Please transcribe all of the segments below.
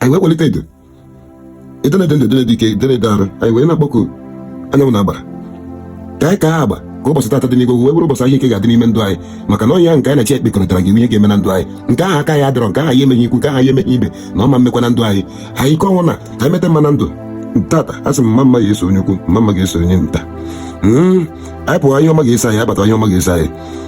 anyị wee kpọlite edo edo na-ede ndụ dịrị dike dịrị dị arụ anyị wee na-akpọku anyanwụ na agbara ka anyị ka ha agba ka ụbọchị tata dị n'igwe wee bụrụ ụbọchị ahụ ike ga-adị n'ime ndụ anyị maka na onye ahụ nke anyị na-eche ekpekọrịtara gị ihe ga-eme na ndụ anyị nke ahụ aka ya adịrọ nke ahụ ya emeghị ikwu nke ahụ ya emeghị ibe na ọ ma mekwa na ndụ anyị anyị ike ọnwụ na ka anyị meta mma na ndụ tata a sị m mma mma ga-eso onye ukwu mma mma ga-eso onye nta hmm, anyị pụwa ihe ọma ga-eso anyị abata ihe ọma ga-eso anyị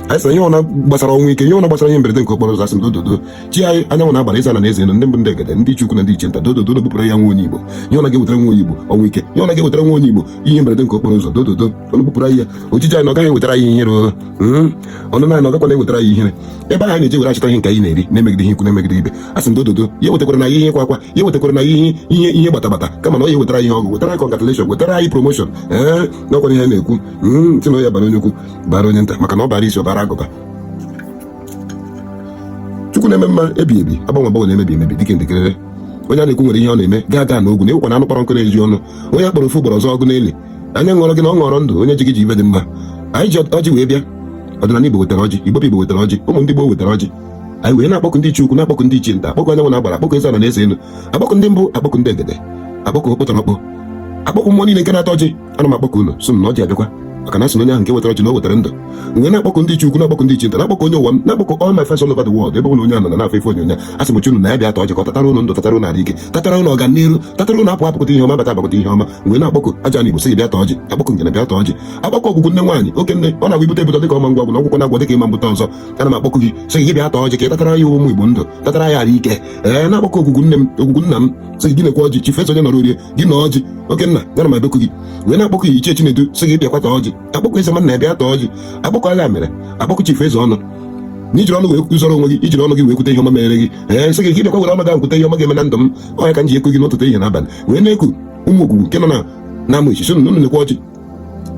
anyị sịrị ihe ọbụna gbasara ọnwụ ike ihe ọbụna gbasara ihe mberede nke okporo ụzọ a sị m dododo chi anyị anyanwụ na agbara eze ana na eze enu ndị mbụ ndị egede ndị ichie ukwu na ndị ichie nta dododo bupụrụ ya nwa onye igbo ihe ọbụna ga-ewetara nwa onye igbo ọnwụ ike ihe ọbụna ga-ewetara nwa onye igbo ihe mberede nke okporo ụzọ dododo unu bupụrụ anyị ya ojije anyị na ọ gaghị ewetara anyị ihere oo. Mm. ọnụna anyị ọ gakwana ewetara anyị ihere ebe anyị na-eje were achọta ihe nke anyị na-eri na-emegideghị ikwu na-emegide ibe a sị m dododo ya ewetakwarana anyị ihe ịkwa akwa ya ewetakwarana anyị ihe ihe ihe gbatagbata kama na ọ ya wetara anyị ihe ọṅụ wetara anyị congratulation wetara anyị promotion ee n'ọkwa ihe a na-ekwu Mm, sị na ọ ya bara onye ukwu bara onye nta maka na ọ bara isi ọ bara agụba chukwu na-eme mma ebi ebi agbanwe agbanwe na-emebi emebi dịka ndịkerere onye a na-ekwu nwere ihe ọ na-eme gaga n'ogwu na ịwụkwa na anụ kpọrọ nkụ na-eju ọnụ onye a kpọrọ ofu ugboro ọ za ọgụ na ili anya hụrụ gị na ọ hụrụ ndụ onye ji gị ji ihe dị mma anyị ji ọjị wee bịa ọdịnala igbo wetara ọjị gboo gboo wetara ọjị ụmụ ndị gboo wetara ọjị anyị wee na-akpọku ndị ichie ukwu na-akpọku ndị ichie nta akpọku anyanwụ na agbara akpọku eze ala na eze elu akpọku ndị mbụ akpọku ndị egede akpọku okpotorokpo akpọku mmụọ niile nke na-ata ọjị ana m akpọku unu sị m na ọjị abịakwa maka na a sị na onye ahụ nke wetara ọjị na o wetara ndụ m wee na-akpọku ndị ichie ukwu na-akpọku ndị ichie nta na-akpọku onye ụwa m na-akpọku all my friends all over the world ebe ọbụna onye a nọ na-afụ ife onyonyo a sị m chi unu na ya bịa ta ọjị ka ọ tatara unu ndụ tatara unu arụ ike tatara unu ọganiru tatara unu apụ apụkọta ihe ọma bata abakọta ihe ọma m wee na-akpọku ajana igbo sị bịa ta ọjị akpọku ngene bịa ta ọjị akpọku ogwugwu nne nwaanyị oke nne ọ na-agwa ibute ebute dịka ọma ngwa ọgwụ na ọgwụkwọ na-agwọ dịka ịma mbụta ọzọ ana m akpọku gị sị gị bịa ta ọjị ka ị tatara ya ụmụ igbo ndụ tatara ya arụ ike ee na-akpọku ogwugwu nne m ogwugwu nna m sị gị nekwa ọjị chifu eze onye nọrọ orie gị na ọjị oke nna ya na m ebeku gị wee na-akpọku gị ichie chinedu sị gị bịakwa ta ọjị akpọku eze nwanna ya bịa ta ọjị akpọku agha mere akpọku chifu eze ọnụ na i jiri ọnụ wee kwuzọrọ onwe gị i jiri ọnụ gị wee kwute ihe ọma mere gị ee m sị gị ka ị bịakwa were ọnụ gị ahụ kwute ihe ọma ga-eme na ndụ m ọ nya ka m ji eku gị n'ụtụtụ ehihie na abalị wee na-eku ụmụ ogwugwu nke nọ na na Amichi sị unu nekwa ọjị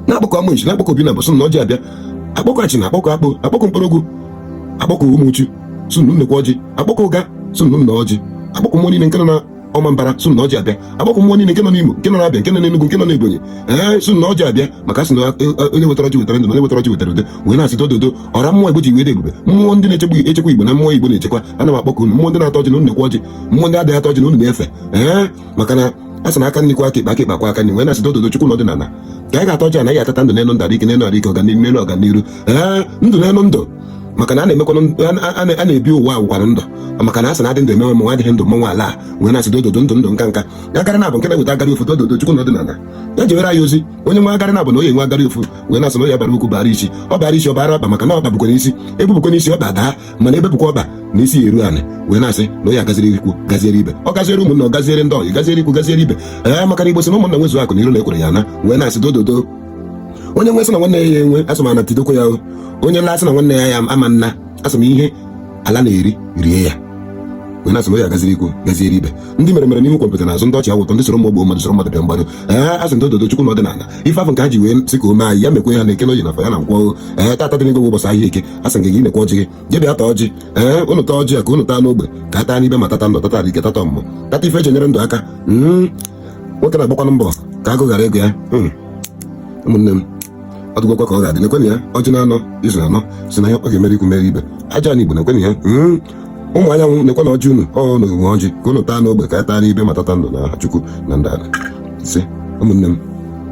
na-akpọku Amichi na-akpọku obi na bụ sị unu na ọjị abịa akpọku Achina akpọku Akpo akpọku Nkpologwu akpọku Umuchu sị unu nekwa ọjị akpọku Uga sị unu na ọjị akpọku mmụọ niile nke nọ na Ọmambara sị unu na ọjị abịa akpọku mmụọ niile nke nọ n'Imo nke nọ n'Abịa nke nọ n'Enugu nke nọ n'Ebonyi ee sị unu na ọjị abịa maka sị na onye wetara ọjị wetara ndụ onye wetara ọjị wetara udo wee na-asị dododo ọra mmụọ Igbo ji wee dị ebube mmụọ ndị na-echekwa echekwa Igbo na mmụọ Igbo na-echekwa ana m akpọku unu mmụọ ndị na-ata ọjị na unu nekwa ọjị mmụọ ndị adịghị ata ọjị na unu na-efe ee maka na a sị na aka nri kwọọ aka ekpe aka ekpe akwọọ aka nri wee na-asị dododo chukwu na ọdịnala ka anyị ga-ata ọjị anyị atata ndụ n'elu ndụ arụ ike n'elu arụ ike ọganihu n'elu ọganihu ee ndụ n'elu ndụ maka na a na-emekwanụ a na-ebi ụwa agwụkwanụ ndụ maka na a sị na adị ndụ emewe mmanwụ adịghị ndụ mmanwụ ala a wee na-asị dododo ndụ ndụ nka nka agara na-abụ nke na-eweta agara ofu dododo chukwu na ọdịnala ya jewere anyị ozi onye nwe agara na-abụ na onye nwe agara ofu wee na-asị na onye bara ukwu bara isi ọ bara isi ọ bara ọba maka na ọba bụkwa n'isi ebepụkwa n'isi ọba daa mana ebepụkwa ọba na isi eru anị wee na-asị na onye agaziri ikwu gaziere ibe ọ gaziere ụmụnna ọ gaziere ndị ọyị gaziere ikwu gaziere ibe ee maka na igbo sị na ụmụnna nwezu akụ na iro na ekworo ya naa wee na-asị dododo onye nwe sị na nwanne ya enwe asị m ana tidokwa ya onye laa sị na nwanne ya ama naa asị m ihe ala na-eri rie ya onye asị m ya gaziri ikwu gaziere ibe ndị mere mere n'ihu kọmpịtị n'azụ ndị ọchị awụ ụtọ ndị soro mgbu gbuo mmadụ soro mmadụ bịa mgbaru ee asị m dododo chukwu na ọdịnala ife afụ nke ha ji wee sị ka ome anyị ya mekwe ha na eke na oye na afọ ya na nkwọ ee tata dị n'ego ụbọchị ahịa eke asị nke gị nekwe ọjị gị je bịa taa ọjị ee ụnụ taa ọjị a ka ụnụ taa n'ogbe ka a taa n'ibe ma tata ndụ tata ike tata ọmụmụ tata ife eji enyere ndụ aka nwoke na-agbakwanụ mbọ ka agụụ ghara igbu ya hmm. ụmụnne m ọ dịgwakwa ka ọ ga-adị nekwenụ ya ọjị na anọ izu anọ si na ya ọ ga-emere ikwu mere ibe ajana igbo nekwenụ ya hmm. ụmụ anyanwụ nekwe na ọjị unu ọ na ogwe ọjị ka unu taa n'ogbe ka a taa n'ibe ma tata ndụ na chukwu na ndị ala ise ụmụnne m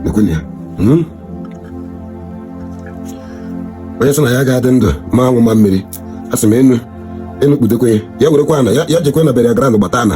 nekwenụ ya hmm. onye sị na ya ga-adị ndụ ma anwụ ma mmiri a sị m enu enu kpudekwe ya werekwa ana ya jekwe na bere ya gara na gbata ana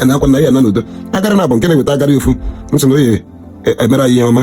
a na-akwa na ya na n'udo agara na abụ nke na-eweta agara ofu m sị na oye emere anyị ihe ọma